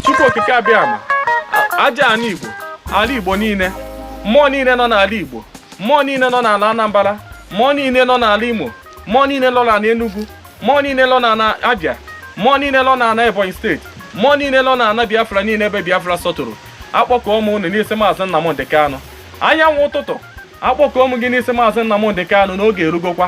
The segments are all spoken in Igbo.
Chukwu okike abịama aja ana Igbo ala Igbo niile mmụọ niile nọ n'ala Igbo mmụọ niile nọ n'ala Anambra mmụọ niile nọ n'ala Imo mmụọ niile nọ n'ala Enugu mmụọ niile nọ n'ala Abia mmụọ niile nọ n'ala Ebonyi steeti mmụọ niile nọ n'ala Biafra niile ebe Biafra sọtụrụ akpọkọọ m unu n'isi maazị Nnamdị Kanụ anyanwụ ụtụtụ akpọkọọ m gị n'isi maazị Nnamdị Kanụ n'oge erugokwa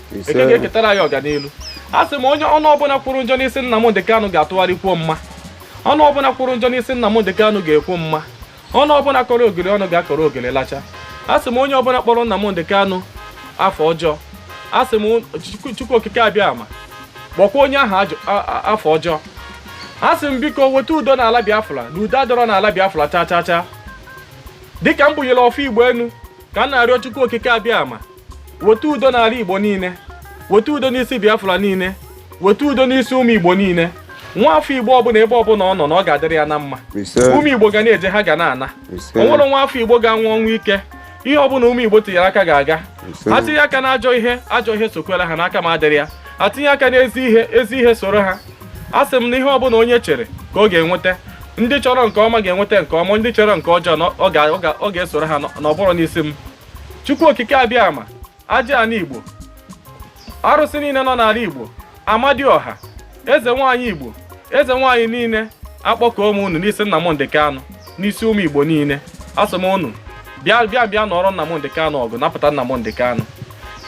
eke ga-eketara anyị ọganiru a sị m onye ọnụ ọbụla kwuru njọ n'isi nnamdị kanụ ga-atụgharị kwuo mma ọnụ ọbụla kwuru njọ n'isi nnamdị kanụ ga-ekwu mma ọnụ ọbụla kọrọ ogiri ọnụ ga-akọrọ ogiri lacha a sị m onye ọbụla kpọrọ nnamdị kanụ afa ọjọọ a sị m chukwu okike abịama kpọkwa onye ahụ afa ọjọọ a sị m biko weta udo n'ala biafra na udo adọrọ n'ala biafra chaa chaa chaa dịka m bunyere ọfọ igbo enu ka m na-arịọ chukwu okike abịama weta udo n'ala igbo niile weta udo n'isi biafra niile weta udo n'isi ụmụ igbo niile nwa afọ igbo ọbụla ebe ọbụla ọ nọ na ọ ga-adịrị ya na mma ụmụ igbo ga na-eje ha ga na-ana o nwerọ nwa afọ igbo ga-anwụ ọnwụ ike ihe ọbụla ụmụ igbo tinyere aka ga-aga ha tinye aka na ajọ ihe ajọ ihe sokwela ha n'aka ma adịrị ya ha tinye aka n'ezi ihe ezi ihe soro ha a sị m na ihe ọbụla onye chere ka ọ ga-enweta ndị chọrọ nke ọma ga-enweta nke ọma ndị chọrọ nke ọjọọ na ọ ga-esoro ha n'ọbụrụ n'isi m chukwu okike abịama aja ana igbo arụsị niile nọ n'ala igbo amadiọha eze nwaanyị igbo eze nwaanyị niile akpọkọọ m unu n'isi Nnamdị Kanụ n'isi ụmụ igbo niile asị m unu bịa bịa bịa nụọrọ Nnamdị Kanụ ọgụ napụta Nnamdị Kanụ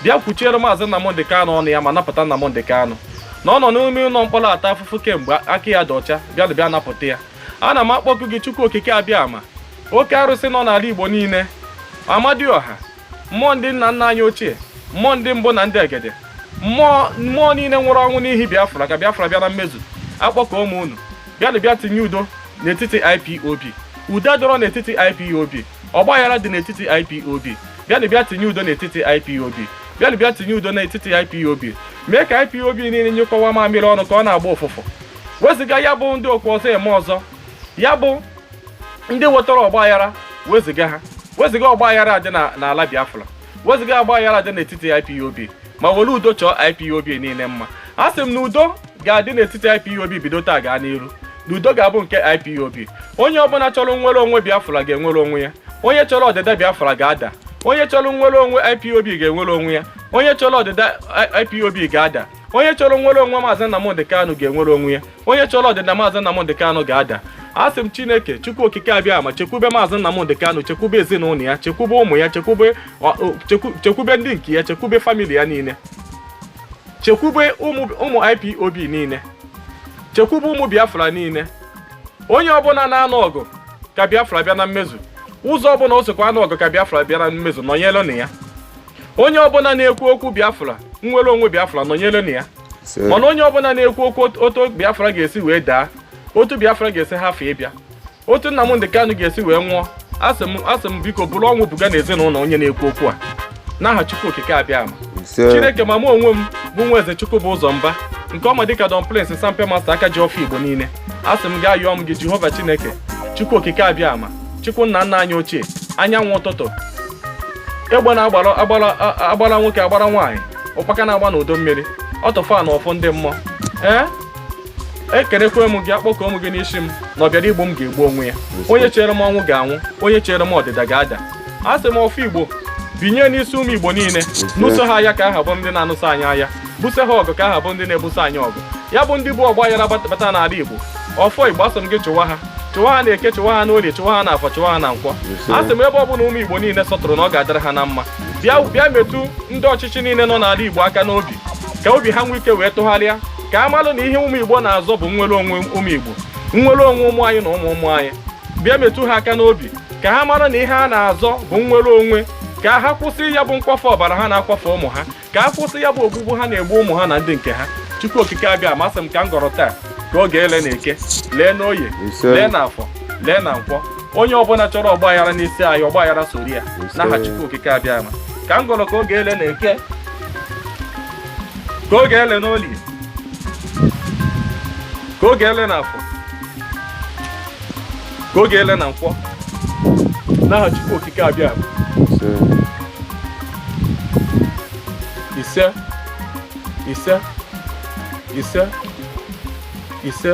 bịa kwuchiere maazị Nnamdị Kanụ ọnụ ya ma napụta Nnamdị Kanụ na ọ nọ n'ime ụlọ mkpọrọ ata afụfụ kemgbe aka ya dị ọcha bịa bịa napụta ya ana m akpọku gị Chukwu Okike abịama oke arụsị nọ n'ala igbo niile amadioha mmụọ ndị nna nna anyị ochie mmụọ ndị mbụ na ndị egede mmụọ mmụọ niile nwụrụ ọnwụ n'ihi biafra ka biafra bịa na mmezu akpọkọọ m unu bịanụ bịa tinye udo n'etiti ipob udo dọrọ n'etiti ipob ọgbaghara dị n'etiti ipob bịanụ bịa tinye udo n'etiti ipob bịanụ bịa tinye udo n'etiti ipob mee ka ipob niile nyụkọwa mamịrị ọnụ ka ọ na-agba ụfụfụ wezụga ya bụ ndị okwu ọzọ eme ọzọ ya bụ ndị wetara ọgba aghara wezụga ha wezụga ọgba aghara dị na- n'ala biafra wezụga ọgba aghara dị n'etiti ipob ma were udo chọọ ipob niile mma a sị m na udo ga-adị n'etiti ipob bido taa gaa n'iru na udo ga-abụ nke ipob onye ọbụla chọrọ nnwere onwe biafra ga-enwere onwe ya onye chọrọ ọdịda biafra ga-ada onye chọrọ nnwere onwe ipob ga-enwere onwe ya onye chọrọ ọdịda I- ipob ga-ada onye chọrọ nnwere onwe maazị nnamdị kanu ga-enwere onwe ya onye chọrọ ọdịda maazị Nnamdị Kanụ ga-ada asị m Chineke Chukwu Okike Abịama chekwube maazị Nnamdị Kanụ chekwube ezinụlọ ya chekwube ụmụ ya chekwube chekwube ndị nke ya chekwube famili ya niile chekwube ụmụ IPOB niile chekwube ụmụ Biafra niile onye ọbụla na-anụ ọgụ ka Biafra bịa na mmezu ụzọ ọbụla o sokwa anụ ọgụ ka Biafra bịa na mmezu nọnyere na ya onye ọbụla na-ekwu okwu Biafra nnwere onwe Biafra nọnyere na ya mana onye ọbụla na-ekwu okwu otu biafra ga-esi wee daa otu biafra ga-esi hafụ ịbịa otu nnamdị kanụ ga-esi wee nwụọ asị m asị m biko buru ọnwụ buga na ezinụlọ onye na-ekwu okwu a n'aha chukwu okike abịama chineke ma mụ onwe m bụ nwa eze chukwubụzọ mba nke a ma dịka don prince sampe master aka ji ọfọ igbo niile asị m gaa yọọ m gị jehova chineke chukwu okike abịama chukwu nna nna anyị ochie anyanwụ ụtụtụ egbe na agbara agbara agbara nwoke agbara nwaanyị ụkpaka na-agba n'udu mmiri ọ tọfa na ọfọ ndị mmụọ ee ekelekwe m gị akpọkuo m gị na asị m na ọ bịara igbu m ga-egbu onwe ya onye chere m ọnwụ ga-anwụ onye chere m ọdịda ga-ada asị m ọfọ igbo binie n'isi ụmụ igbo niile nụso ha aya ka ha ha bụ ndị na-anụso anyị aya buso ha ọgụ ka ha ha bụ ndị na-ebuso anyị ọgụ ya bụ ndị bu ọgbaghara bata n'ala igbo ọfọ igbo asị m gị chụwa ha chụwa ha na eke chụwa ha n'orie chụwa ha na afọ chụwa ha na nkwọ asị m ebe ọ bụla ụmụ igbo niile sọtụrụ na ọ ga-adịrị ha na mma bịa bịa metụ ndị ọchịchị niile nọ n'ala Igbo aka n'obi ka obi ha nwee ike wee tụgharịa ka ha malụ na ihe ụmụ Igbo na-azọ bụ nnwere onwe ụmụ Igbo nnwere onwe ụmụ anyị na ụmụ ụmụ anyị bịa metụ ha aka n'obi ka ha mara na ihe a na-azọ bụ nnwere onwe ka ha kwụsị ya bụ nkwafe ọbara ha na-akwafe ụmụ ha ka ha kwụsị ya bụ ogbugbu ha na-egbu ụmụ ha na ndị nke ha Chukwu Okike Abịama asị m ka m gọrọ taa ka ọ ga-ele na eke lee n'oye lee na afọ lee na nkwọ onye ọbụla chọrọ ọgbaghara n'isi anyị ọgbaghara soro ya n'aha Chukwu okike abịama ka m gọrọ ka ọ ga-ele na eke ka ọ ga-ele n'olie ka ọ ga-ele na afọ ka ọ ga-ele na nkwọ n'aha Chukwu okike abịama ise ise ise ise